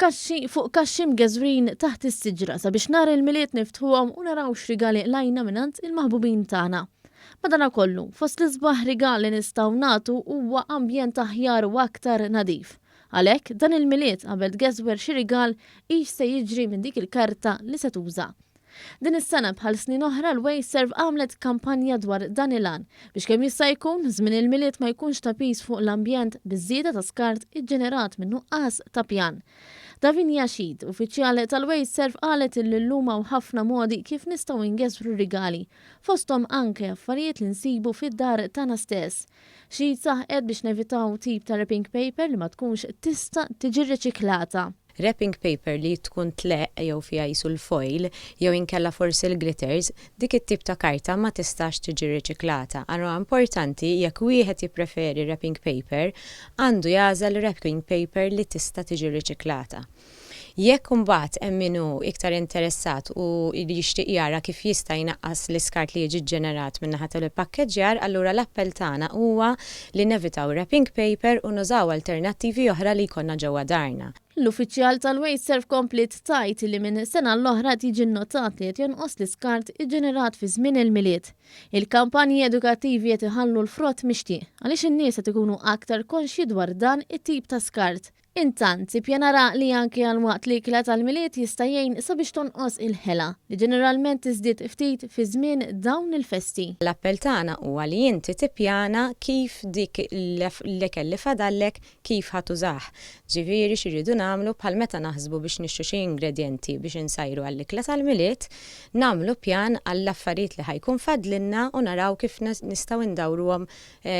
Kaxxi fuq kaxxi mgeżwrin taħt is-siġra sabiex nhar il-Milied niftħuhom u naraw x'rigali qlajna mingħand il-maħbubin tagħna. Madanakollu, fost l-isbaħ rigal li nistgħu nagħtu huwa ambjent aħjar u aktar nadif. Għalhekk, dan il-Milied, qabel tgeżwer xi rigal, qis se jiġri minn dik il-karta li se tuża. Din is-sena bħal snin oħra l-WasteServ għamlet kampanja dwar dan il-għan biex kemm jista' jkun żmien il-Milied ma jkunx ta' piż fuq l-ambjent biż-żieda ta' skart iġġenerat minn nuqqas ta' pjan. Davin Yashid, uffiċjal tal-WasteServ qalet li llum hawn ħafna modi kif nistgħu ingezwru rigali, fosthom anke affarijiet li nsibu fid-dar tagħna stess. Shid saħqet biex nevitaw tip ta' wrapping paper li ma tkunx tista' tiġi riċiklata. Wrapping paper li tkun tleqq jew fiha qisu l-foil jew inkella forsi l-glitters, dik it-tip ta' karta ma tistax tiġi riċiklata. Allura importanti jekk wieħed jippreferi wrapping paper, għandu jagħżel wrapping paper li tista' tiġi riċiklata. Jekk imbagħad hemm min hu iktar interessat u jixtieq jara kif jista' jnaqqas l-iskart li jiġi ġġenerat min-naħa tal-ippakkeġġjar, allura l-appell tagħna huwa li nevitaw wrapping paper u nużaw alternattivi oħra li jkollna ġewwa darna. L-uffiċjal tal-WasteServ kompliet tgħid li minn sena l-oħra qed jiġi nnotat li qed jonqos l-iskart iġġenerat fi żmien il-Milied. Il-kampanji edukattivi qed iħallu l-frott mixtieq għaliex in-nies qed ikunu aktar konxji dwar dan it-tip ta' skart, Intant, ippjanar għaqli anke għal waqt l-ikla tal-Milied jista' jgħin sabiex tonqos il-ħela, li ġeneralment tiżdied ftit fi żmien dawn il-festi. L-appell tagħna huwa li inti tippjana kif dik l-ikel li fadallek kif ħa tużah. Ġifieri x'irridu nagħmlu, bħal meta naħsbu biex nixtru xi ingredjenti biex insajru għall-ikla tal-Milied, nagħmlu pjan għall-affarijiet li ħa jkun fadlilna u naraw kif nistgħu ndawruhom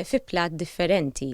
fi platt differenti.